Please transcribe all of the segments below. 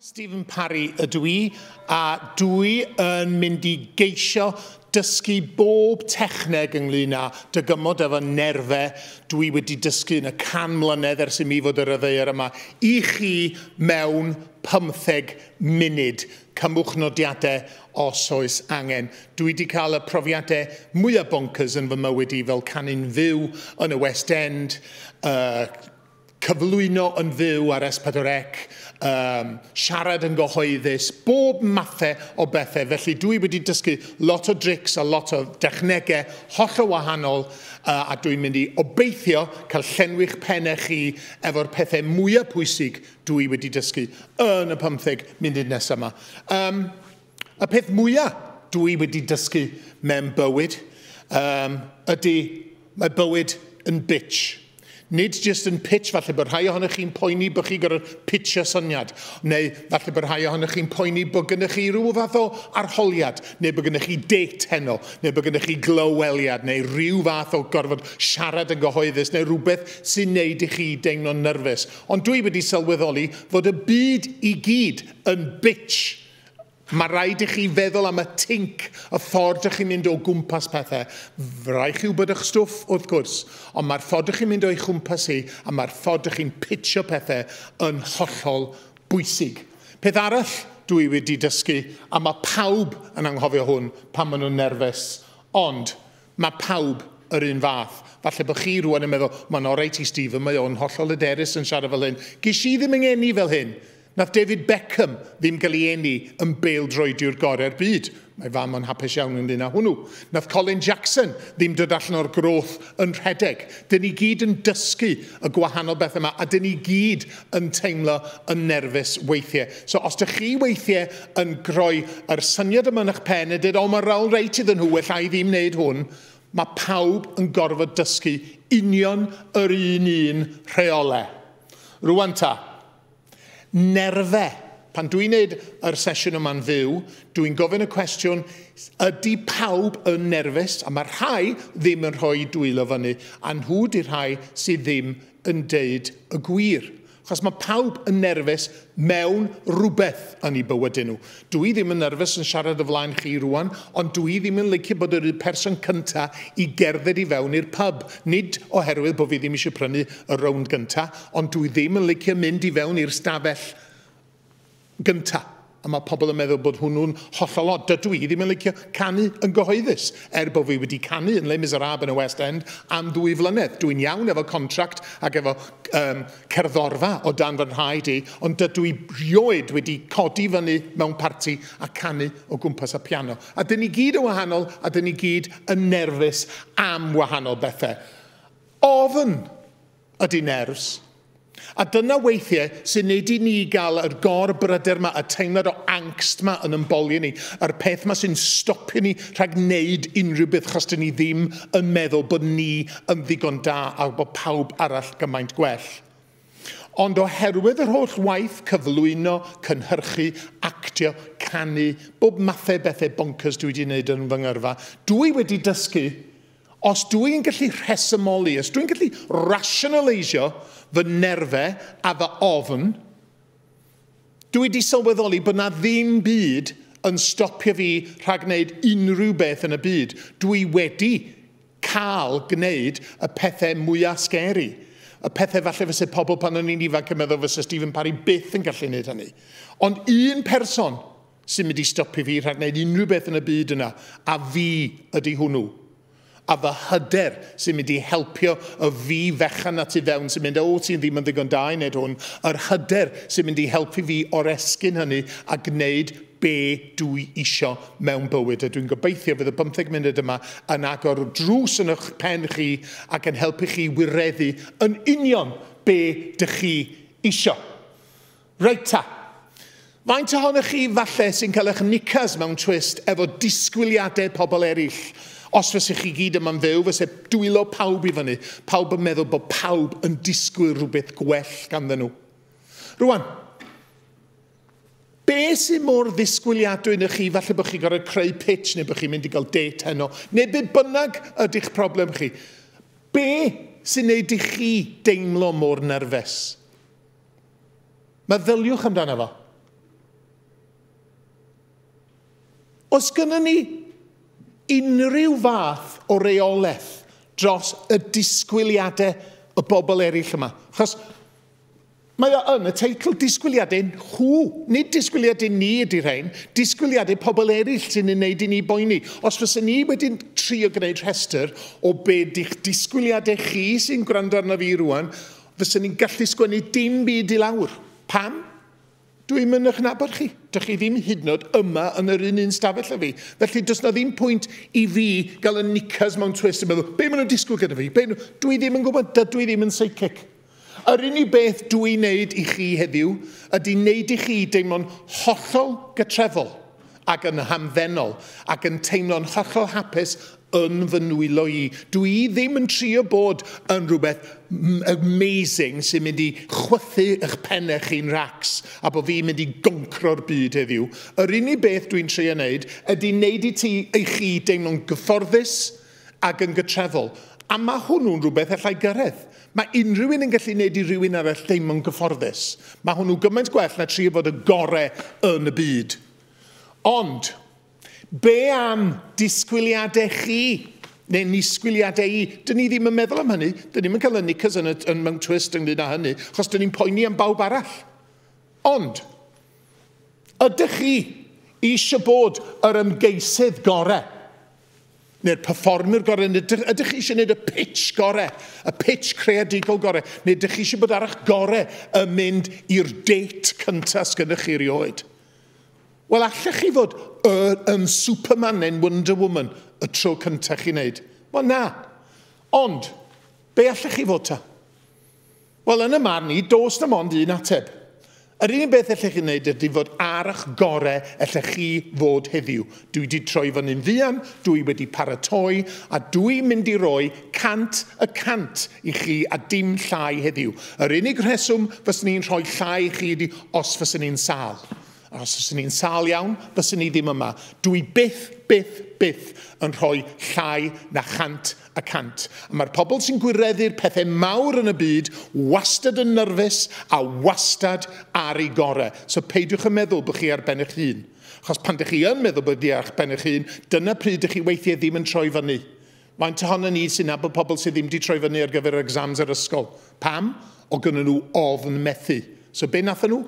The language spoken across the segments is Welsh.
Stephen Parry ydw i, a dwi yn mynd i geisio dysgu bob techneg ynglyn â dygymod efo nerfe. Dwi wedi dysgu yn y can mlynedd ers i mi fod yr yfeir yma i chi mewn pymtheg munud. Cymwch nodiadau os oes angen. Dwi 'di cael y profiadau mwya bonkers yn fy mywyd i fel canu'n fyw yn y West End, yy cyflwyno yn fyw ar S4C, yy siarad yn gyhoeddus, bob mathau o bethau felly dwi wedi dysgu lot o drics a lot o dechnegau hollol wahanol yy a dwi'n mynd i obeithio cael llenwi'ch pennau chi efo'r pethau mwya pwysig Dw i wedi dysgu yn y pymtheg munud nesaf yma. Um, y peth mwyaf dw i wedi dysgu mewn bywyd um, ydy mae bywyd yn bitch. Nid jyst yn pitch, falle bod rhai ohonych chi'n poeni bod chi gorfod pitch y syniad, neu falle bod rhai ohonych chi'n poeni bod gennych chi rhyw fath o arholiad, neu bod gennych chi date heno, neu bod gennych chi glyweliad, neu rhyw fath o gorfod siarad yn gyhoeddus, neu rhywbeth sy'n neud i chi deimlo'n nyrfus. Ond dwi wedi sylweddoli fod y byd i gyd yn bitch. Mae rhaid i chi feddwl am y tinc, y ffordd dych chi'n mynd o gwmpas pethau. Mae rhaid chi wybod eich stwff, wrth gwrs, ond mae'r ffordd dych chi'n mynd o'i chwmpas hi a mae'r ffordd dych chi'n pitsio pethau yn hollol bwysig. Peth arall dwi wedi dysgu, a mae pawb yn anghofio hwn pan maen nhw'n nerfus, ond Mae pawb yr un fath. Falle bod chi rwan yn meddwl, mae'n oreit i Stephen, mae o'n hollol hyderus yn siarad fel hyn. Ges i ddim yn ngeni fel hyn. Nath David Beckham ddim gael ei eni yn bêl-droediwr gorau'r byd. Mae fam o'n hapus iawn ynglŷn â hwnnw. Nath Colin Jackson ddim dod allan o'r groth yn rhedeg. Dyn ni gyd yn dysgu y gwahanol bethau 'ma a dyn ni gyd yn teimlo yn nerfus weithie. So os dych chi weithie yn groi yr syniad yma yn eich pen a dweud, o mae rôl reit iddyn nhw, ella i fi wneud hwn, mae pawb yn gorfod dysgu union yr un un rheole. Rwan ta, nerfe. Pan dwi'n wneud yr sesiwn yma'n fyw, dwi'n gofyn y cwestiwn, ydy pawb yn nerfus? A mae rhai ddim yn rhoi dwylo fyny, a nhw di rhai sydd ddim yn deud y gwir. Achos mae pawb yn nerfus mewn rhywbeth yn eu bywydau nhw. Dw i ddim yn nerfus yn siarad o flaen chi rwan, ond dw i ddim yn licio bod yr un person cynta i gerdded i fewn i'r pub. Nid oherwydd bod fi ddim eisiau prynu y rownd gynta, ond dw i ddim yn licio mynd i fewn i'r stafell gyntaf. A mae pobl yn meddwl bod hwnnw'n hollol od. Dydw i ddim yn licio canu yn gyhoeddus, er bod fi wedi canu yn Les Miserables yn y West End am ddwy flynedd. Dw i'n iawn efo contract ac efo um, cerddorfa o dan fy nhraed i, ond dydw i rioed wedi codi fyny mewn parti a canu o gwmpas y piano. A dyn ni gyd yn wahanol a dyn ni gyd yn nerfus am wahanol bethau. Ofn! ydy nerfs. A dyna weithiau sy'n neud i ni gael yr gor bryder ma, y teimlad o angst ma yn ymbolio ni, yr peth ma sy'n stopio ni rhag neud unrhyw beth chos dyn ni ddim yn meddwl bod ni yn ddigon da a bod pawb arall gymaint gwell. Ond oherwydd yr holl waith cyflwyno, cynhyrchu, actio, canu, bob mathau bethe bonkers dwi wedi neud yn fy ngyrfa, dwi wedi dysgu Os dw i'n gallu rhesymoli, os dw i'n gallu rationaleisio fy nerfau a fy ofn, dw i wedi sylweddoli bod na ddim byd yn stopio fi rhag gwneud unrhyw beth yn y byd. Dw i wedi cael gwneud y pethau mwyaf scary. Y pethau falle fyse pobl pan o'n i'n ifanc yn meddwl fyse Stephen Parry byth yn gallu gwneud hynny. Ond un person Symud i stopi fi rhag wneud unrhyw beth yn y byd yna, a fi ydi hwnnw. A fy hyder sy'n mynd i helpio y fi fechan 'na tu fewn sy'n mynd 'o ti'n ddim yn ddigon da i wneud hwn', yr hyder sy'n mynd i helpu fi oresgyn hynny a gwneud be dwi isio mewn bywyd. A dwi'n gobeithio fydd y bymtheg munud yma yn agor drws yn y'ch pen chi ac yn helpu chi wireddu yn union be dych chi isio. Reit ta. Faint ohonoch chi falle sy'n cael eich knickers mewn twist efo disgwyliadau pobl eraill? Os fysa chi gyd yma'n fyw, fysa dwylo pawb i fyny, pawb yn meddwl bod pawb yn disgwyl rhywbeth gwell ganddyn nhw. Rwan, be sy'n mor ddisgwyliadwy na chi, falle bod chi'n gorfod creu pitch neu bod chi'n mynd i gael date heno, neu be bynnag ydy'ch problem chi. Be sy'n neud i chi deimlo mor nerfus? Meddyliwch amdano fo. Os gynnon ni unrhyw fath o reolaeth dros y disgwyliadau y bobl eraill yma, achos mae o yn y teitl disgwyliadau nhw, nid disgwyliadau ni ydy rhain, disgwyliadau pobl eraill sy'n ei wneud i ni boeni. Os fysa ni wedi trio gwneud rhestr o be di'ch disgwyliadau chi sy'n gwrando arno fi rwan, Fysen i'n gallu sgwennu dim byd i lawr. Pam? Dwi ddim yn eich nabod chi. Dych chi ddim hyd yn oed yma yn yr un un stafell â fi. Felly does na ddim pwynt i fi gael y knickers mewn twist yn meddwl, be maen nhw'n disgwyl gyda fi? Be nhw? Dwi ddim yn gwybod, dydw i ddim yn psychic. Yr unig beth dwi wneud i chi heddiw ydy wneud i chi deimlo'n hollol gytrefol. ac yn hamddenol, ac yn teimlo'n hollol hapus yn fy nwylo i. Dw i ddim yn trio bod yn rhywbeth amazing sy'n mynd i chwythu eich pennau chi'n racs a bod fi'n mynd i goncro'r byd heddiw. Yr unig beth dwi'n trio wneud ydy wneud i ti, i chi deimlo'n gyfforddus, ac yn gytrefol, a mae hwnnw'n rhywbeth allai gyrraedd. Mae unrhyw un yn gallu gwneud i rywun arall deimlo'n gyfforddus. Mae hwnnw gymaint gwell na trio fod y gorau yn y byd. Ond, be am disgwyliadau chi? Neu nisgwyliadau i? Dyn ni ddim yn meddwl am hynny. Dyn ni'm yn cael y knickers yn, yn mewn twist ynglyn â hynny, achos dyn ni'n poeni am bawb arall. Ond, ydych chi eisiau bod yr ymgeisydd gorau? neu'r performer gorau, neu ydych, ydych chi eisiau gwneud y pitch gorau, y pitch creadigol gorau, neu ydych chi eisiau bod ar eich gorau yn mynd i'r date cyntaf sgynnych chi rioed? Wel, allech chi fod yn Superman neu'n Wonder Woman y tro cyntaf chi wneud? Wel, na. Ond, be allech chi fod ta? Wel, yn y marn i, does na mond un ateb. Yr unig beth ellech chi wneud ydy fod ar ych gore ellech chi fod heddiw. Dwi wedi troi fyny'n fuan, dwi wedi paratoi, a dwi mynd i roi 100 y cant i chi a dim llai heddiw. Yr unig rheswm fyswn i'n rhoi llai i chi ydy os fyswn i'n sâl. A os fyswn i'n sâl iawn, fyswn i ddim yma. Dw i byth, byth, byth yn rhoi llai na chant y cant. A mae'r pobl sy'n gwireddu'r pethau mawr yn y byd wastad yn nyrfys a wastad ar eu gorau. So peidiwch â meddwl bod chi ar ben eich hun. Achos pan dych chi yn meddwl bod chi ar ben eich hun, dyna pryd dych chi weithiau ddim yn troi fyny. Faint ohonon ni sy'n nabod pobl sydd ddim 'di troi fyny ar gyfer yr exams yr ysgol? Pam? O gynnon nhw ofn methu. So be nathon nhw?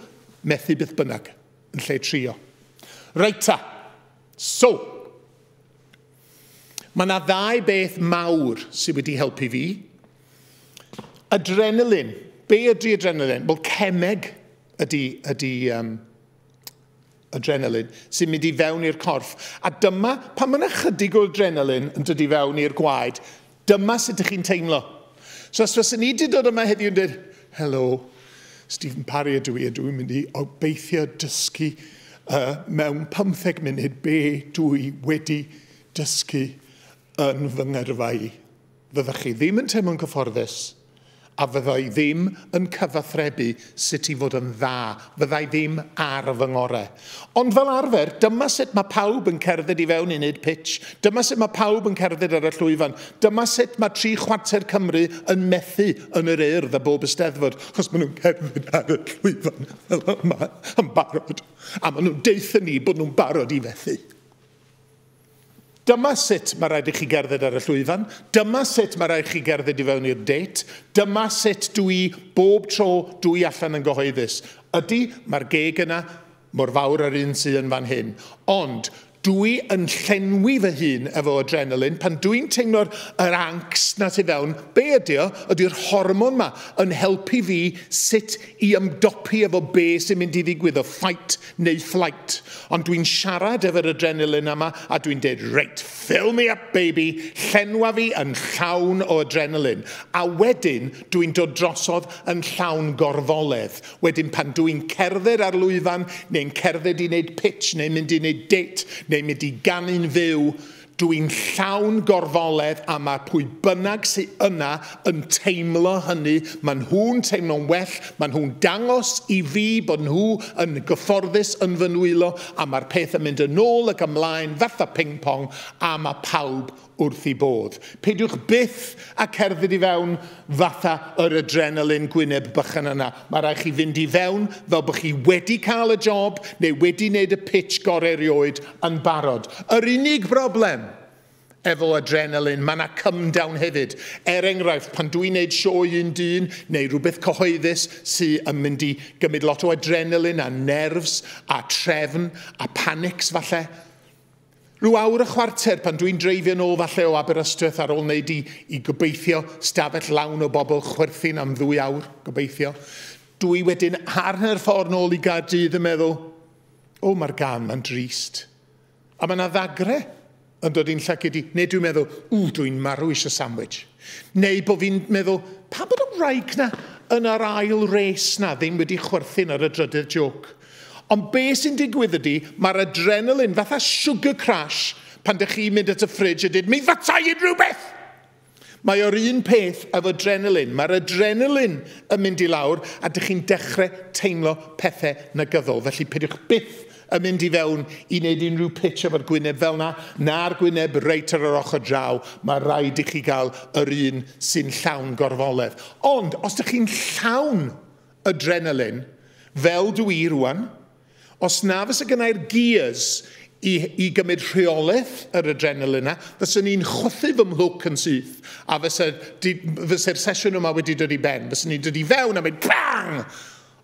Methu beth bynnag, yn lle trio. Reit ta. So, mae yna ddau beth mawr sydd wedi helpu fi. Adrenalin. Be ydy adrenalin? Wel, cemeg ydy, ydy um, adrenalin sy'n mynd i fewn i'r corff. A dyma, pan mae yna chydig o adrenalin yn dod i fewn i'r gwaed, dyma sut ydych chi'n teimlo. So os fyswn ni wedi dod yma heddiw yn dweud, helo, Stephen Parry ydw i, ydw i'n mynd i obeithio dysgu uh, mewn 15 munud be dwi wedi dysgu yn fy ngyrfa i. Fyddech chi ddim yn teimlo'n cyfforddus, a fydda i ddim yn cyfathrebu sut i fod yn dda, fydda i ddim ar fy ngorau. Ond fel arfer, dyma sut mae pawb yn cerdded i fewn i wneud pitch, dyma sut mae pawb yn cerdded ar y llwyfan, dyma sut mae tri chwarter Cymru yn methu yn yr Urdd a bob Eisteddfod, achos maen nhw'n cerdded ar y llwyfan fel yma yn barod, a maen nhw'n deutha ni bod nhw'n barod i fethu. Dyma sut mae rhaid i chi gerdded ar y llwyfan, dyma sut mae rhaid chi gerdded i fewn i'r dêt, dyma sut dw i bob tro dw i allan yn gyhoeddus. Ydy, mae'r geg yna mor fawr â'r un sy yn fan hyn. Ond dw i yn llenwi fy hun efo adrenalin pan dw i'n teimlo'r yr angst 'na tu fewn. Be ydy o? Ydy'r hormon 'ma yn helpu fi sut i ymdopi efo be sy'n mynd i ddigwydd, y fight neu flight, ond dwi'n siarad efo'r adrenaline yma a dwi'n deud reit, fill me up baby, llenwa fi yn llawn o adrenaline, a wedyn dwi'n dod drosodd yn llawn gorfoledd, wedyn pan dwi'n cerdded ar lwyfan neu'n cerdded i wneud pitch neu mynd i wneud date neu mynd i ganu'n fyw, Dw i'n llawn gorfoledd a mae pwy bynnag sy yna yn teimlo hynny, mae nhw'n teimlo'n well, mae nhw'n dangos i fi bod nhw yn gyfforddus yn fy nwylo a mae'r peth yn mynd yn ôl ac ymlaen fatha ping pong a mae pawb wrth eu bodd. Peidiwch byth â cerdded i fewn fatha yr adrenaline gwyneb bychan yna. Mae rhaid chi fynd i fewn fel bod chi wedi cael y job neu wedi wneud y pitch gorau erioed yn barod. Yr unig broblem efo adrenaline, mae yna cymdown hefyd. Er enghraifft, pan dw i'n wneud sioe un dyn neu rhywbeth cyhoeddus sydd yn mynd i gymryd lot o adrenaline a nerfs a trefn a panics falle, Rhyw awr a chwarter pan dwi'n dreifio nôl falle o Aberystwyth ar ôl wneud i, i gobeithio, stafell lawn o bobl chwerthin am ddwy awr, gobeithio. Dw i wedyn ar hanner ffordd nôl i Gaerdydd yn meddwl, o mae'r gan, mae'n drist. A mae yna ddagre yn dod i'n llaced i, neu dwi'n meddwl, ww dw i'n marw eisiau sandwich. Neu bod fi'n meddwl, pa bod y wraig na yn yr ail res na ddim wedi chwerthin ar y drydydd joke. Ond be sy'n digwydd ydi, mae'r adrenalin fatha sugar crash pan dych chi'n mynd at y ffridge a dweud, mi fytai i'n rhywbeth! Mae o'r un peth efo adrenalin. Mae'r adrenalin yn mynd i lawr a dych chi'n dechrau teimlo pethau negyddol. Felly peidiwch byth yn mynd i fewn i wneud unrhyw pitch efo'r gwyneb fel na, na'r gwyneb reit ar yr ochr draw. Mae rhaid i chi gael yr un sy'n llawn gorfoledd. Ond os dych chi'n llawn Adrenaline, fel dw i rŵan. Os na fysa gennai'r gears i i gymryd rheolaeth yr adrenaline 'na, fyswn i'n chwythu fy mhlwc yn syth, a fysa di- fysa'r sesiwn yma wedi dod i ben. Fyswn i'n dod i fewn a mynd bang!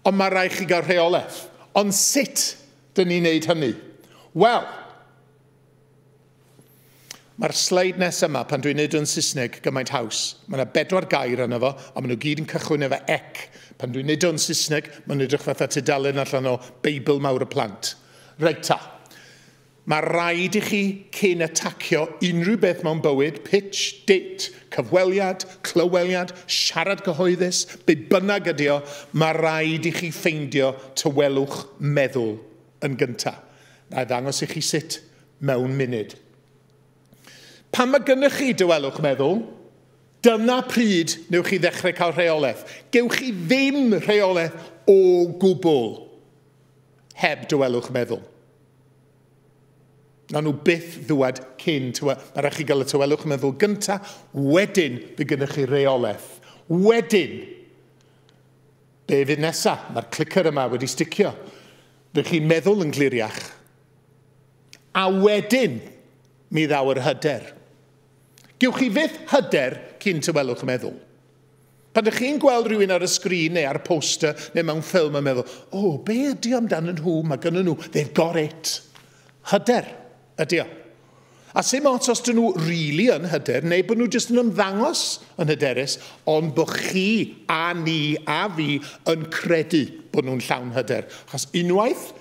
Ond ma' raid chi gael rheolaeth. Ond sut 'dyn ni'n neud hynny? Wel, Mae'r sleid nes yma, pan dwi'n neud o'n Saesneg, gymaint haws. Mae yna bedwar gair yna fo, a maen nhw gyd yn cychwyn efo ec. Pan dwi'n neud o'n Saesneg, mae'n edrych fatha tudalen allan o Beibl mawr y plant. Reit ta. Mae rhaid i chi, cyn atacio unrhyw beth mewn bywyd, pitch, date, cyfweliad, clyweliad, siarad cyhoeddus, be bynnag ydi o, mae rhaid i chi ffeindio tawelwch meddwl. yn gyntaf. Na i ddangos i chi sut mewn munud. Pan mae gennych chi dywelwch meddwl, dyna pryd newch chi ddechrau cael rheolaeth. Gewch chi ddim rheolaeth o gwbl heb dywelwch meddwl. Na nhw byth ddwad cyn, mae rhaid chi gael y tywelwch meddwl gyntaf, wedyn bydd gennych chi reolaeth. Wedyn, Be fydd nesa? Mae'r clicker yma wedi sticio. Rych chi'n meddwl yn gliriach. A wedyn, mi ddaw yr hyder. Gewch chi fyth hyder cyn tywelwch meddwl. Pan ydych chi'n gweld rhywun ar y sgrin neu ar y poster neu mewn ffilm yn meddwl, o, oh, be ydy amdanyn nhw, mae gynnyn nhw, they've got it. Hyder. Ydy o. A sy'n mots os dyn nhw rili really yn hyder, neu bod nhw jyst yn ymddangos yn hyderus, ond bod chi a ni a fi yn credu bod nhw'n llawn hyder. Achos unwaith,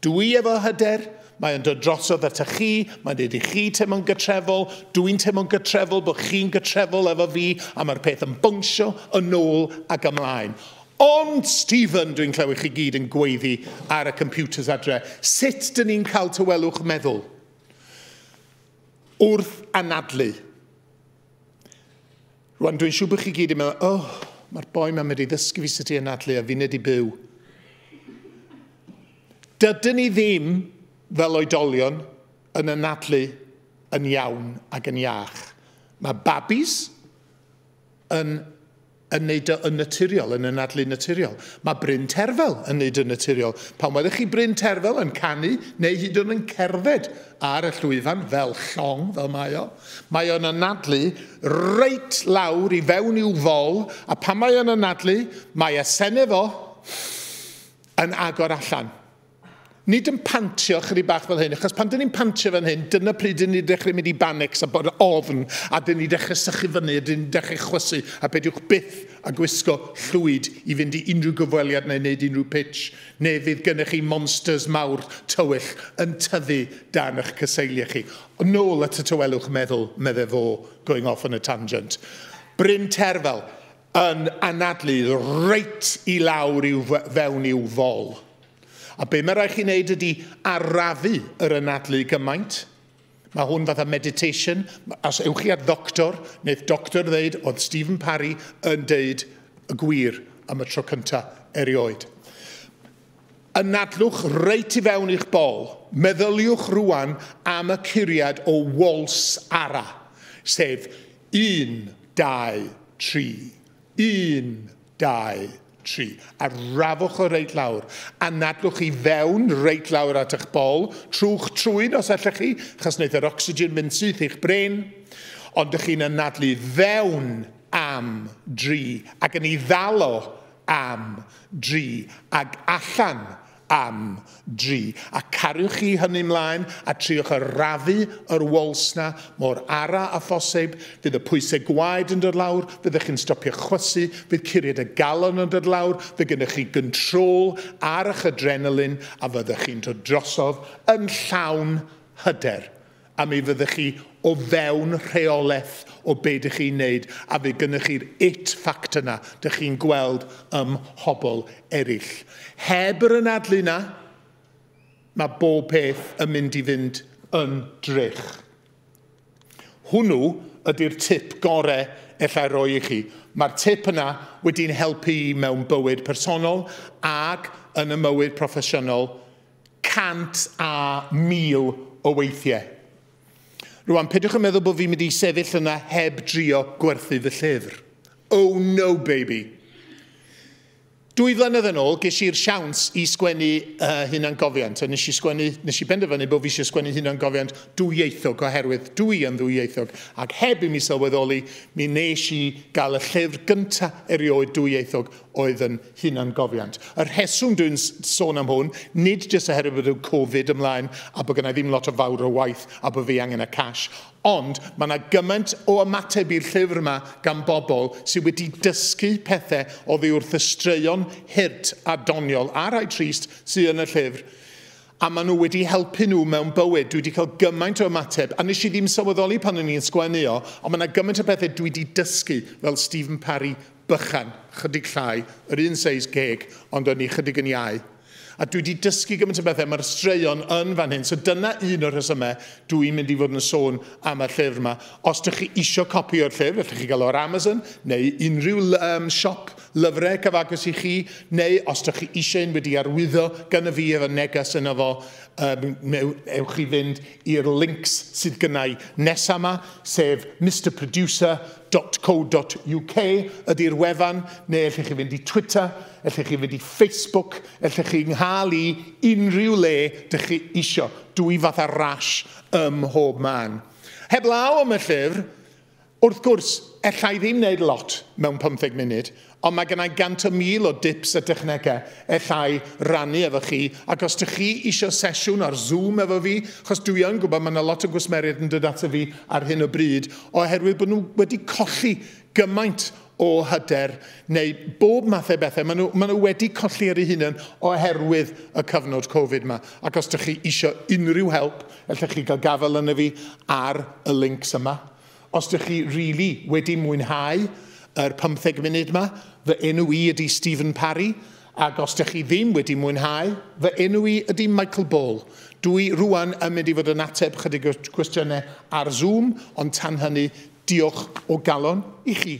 dw i efo hyder, Mae o'n dod drosodd ata chi, mae'n dweud i chi teimlo'n gytrefol, dw i'n teimlo'n gytrefol bod chi'n gytrefol efo fi, a mae'r peth yn bwngsio yn ôl ac ymlaen. Ond Stephen, dwi'n clywed chi gyd yn gweiddi ar y computers adre. Sut dyn ni'n cael tawelwch meddwl? Wrth anadlu. Rwan, dwi'n siŵr bod chi gyd yn meddwl, oh, mae'r boi mae'n mynd i ddysgu fi sut i anadlu a fi'n nid i byw. Dydyn ni ddim, fel oedolion, yn anadlu yn iawn ac yn iach. Mae babis yn yn neud o yn naturiol, yn anadlu naturiol. Mae Bryn Terfel yn neud yn naturiol. Pan welwch chi Bryn Terfel yn canu, neu hyd yn yn cerdded ar y llwyfan fel llong, fel mae o, mae o'n anadlu reit lawr i fewn i'w fol, a pan mae o'n anadlu, mae asenne fo yn agor allan. Nid yn pantio chydig bach fel hyn, achos pan dyn ni'n pantio fan hyn, dyna pryd dyn ni'n dechrau mynd i banics a bod ofn, a dyn ni'n dechrau sychu fyny, a dyn ni'n dechrau chwysu, a peidiwch byth a gwisgo llwyd i fynd i unrhyw gyfweliad neu wneud unrhyw pitch, neu fydd gennych chi monsters mawr tywyll yn tyfu dan eich cyseiliau chi. Nôl at y tawelwch meddwl, medde fo, going off on a tangent. Bryn Terfel, yn anadlu reit i lawr i'w fewn i'w fol. A be mae rhaid chi wneud ydy arafu yr anadlu gymaint. Mae hwn fatha meditation. Os ewch chi at ddoctor, wneud doctor ddeud oedd Stephen Parry yn deud y gwir am y tro cyntaf erioed. Anadlwch reit i fewn i'ch bol. Meddyliwch rwan am y curiad o Walls Ara, sef Un, dau, tri. Un, dau, tri. Arafwch o reit lawr. Anadlwch i fewn reit lawr at eich bol. Trwch trwyn os allech chi, achos wneith yr ocsigen fynd syth i'ch bren. Ond dych chi'n anadlu fewn am dri, ac yn ei ddalo am dri, ac allan am dri, a cariwch chi hynny 'mlaen a triwch arafu yr waltz 'na mor ara a phoseib, fydd y pwyse gwaed yn dod lawr, fyddech chi'n stopio chwysu, fydd curiad y galon yn dod lawr, fydd gennych chi gyntrol ar 'ych adrenalin a fyddech chi'n dod drosodd yn llawn hyder. a mi fyddech chi o fewn rheolaeth o be dych chi'n wneud a fydd gennych chi'r it factor yna dych chi'n gweld ym mhobl eraill. Heb yr anadlu yna, mae bob peth yn mynd i fynd yn drych. Hwnnw ydy'r tip gorau ellai roi i chi. Mae'r tip yna wedi'n helpu i mewn bywyd personol ac yn y mywyd proffesiynol cant a mil o weithiau. Rwan, peidiwch yn meddwl bod fi'n mynd i sefyll yna heb drio gwerthu fy llyfr. Oh no, baby! Dwy flynedd yn ôl, ges i'r siawns i sgwennu uh, hunangofiant, a nes i, sgwennu, nes i benderfynu bod fi eisiau sgwennu hunangofiant dwyieithog oherwydd dwi yn ddwyieithog, ac heb i mi sylweddoli, mi nes i gael y llyfr gyntaf erioed dwyieithog oedd yn hunangofiant. Y rheswm dwi'n sôn am hwn, nid jyst oherwydd bod y Covid ymlaen a bod gennau ddim lot o fawr o waith a bod fi angen y cash, ond mae yna gymaint o ymateb i'r llyfr yma gan bobl sydd wedi dysgu pethau oddi wrth y straeon hurt a doniol a rhai trist sydd yn y llyfr a maen nhw wedi helpu nhw mewn bywyd. Dwi wedi cael gymaint o ymateb, a nes i ddim sylweddoli pan o'n i'n sgwennu o, ond mae yna gymaint o bethau dwi wedi dysgu, fel Stephen Parry bychan, chydig llai, yr un seis geg, ond o'n i chydig yn iau. A dwi di dysgu gymaint o bethau, mae'r straeon yn fan hyn, so dyna un o'r rhesymau dw i'n mynd i fod yn sôn am y llyfr yma. Os dych chi isio copi o'r llyfr, allwch chi gael o ar Amazon, neu unrhyw um, siop lyfrau cyfagos i chi, neu os dych chi eisiau un wedi arwyddo gyda fi efo neges yna fo, um, neu ewch chi fynd i'r links sydd gynnau nesaf yma, sef Mr Producer, www.twitter.co.uk ydy'r wefan, neu ellech chi fynd i Twitter, ellech chi fynd i Facebook, ellech chi nghael i unrhyw le dych chi isio. Dwy fath ar rash ym mhob man. Heblaw am y llyfr, wrth gwrs, ella i ddim wneud lot mewn pymtheg munud, Ond mae gennai gant o mil o dips a dechnegau ellai rannu efo chi, ac os dych chi isio sesiwn ar Zoom efo fi, chos dwi yn gwybod mae 'na lot o gwsmeriaid yn dod ato fi ar hyn o bryd oherwydd bod nhw wedi colli gymaint o hyder neu bob math o bethau, mae nhw, mae nhw wedi colli ar eu hunain oherwydd y cyfnod Covid 'ma, ac os dych chi isio unrhyw help, ellech chi gael gafael arno fi ar y links yma. Os dych chi rili wedi mwynhau yr pymtheg munud ma, fy enw i ydi Stephen Parry, ag os dych chi ddim wedi mwynhau, fy enw i ydi Michael Ball. Dw i rŵan yn mynd i fod yn ateb chydig o gwestiynau ar Zoom, ond tan hynny, diolch o galon i chi.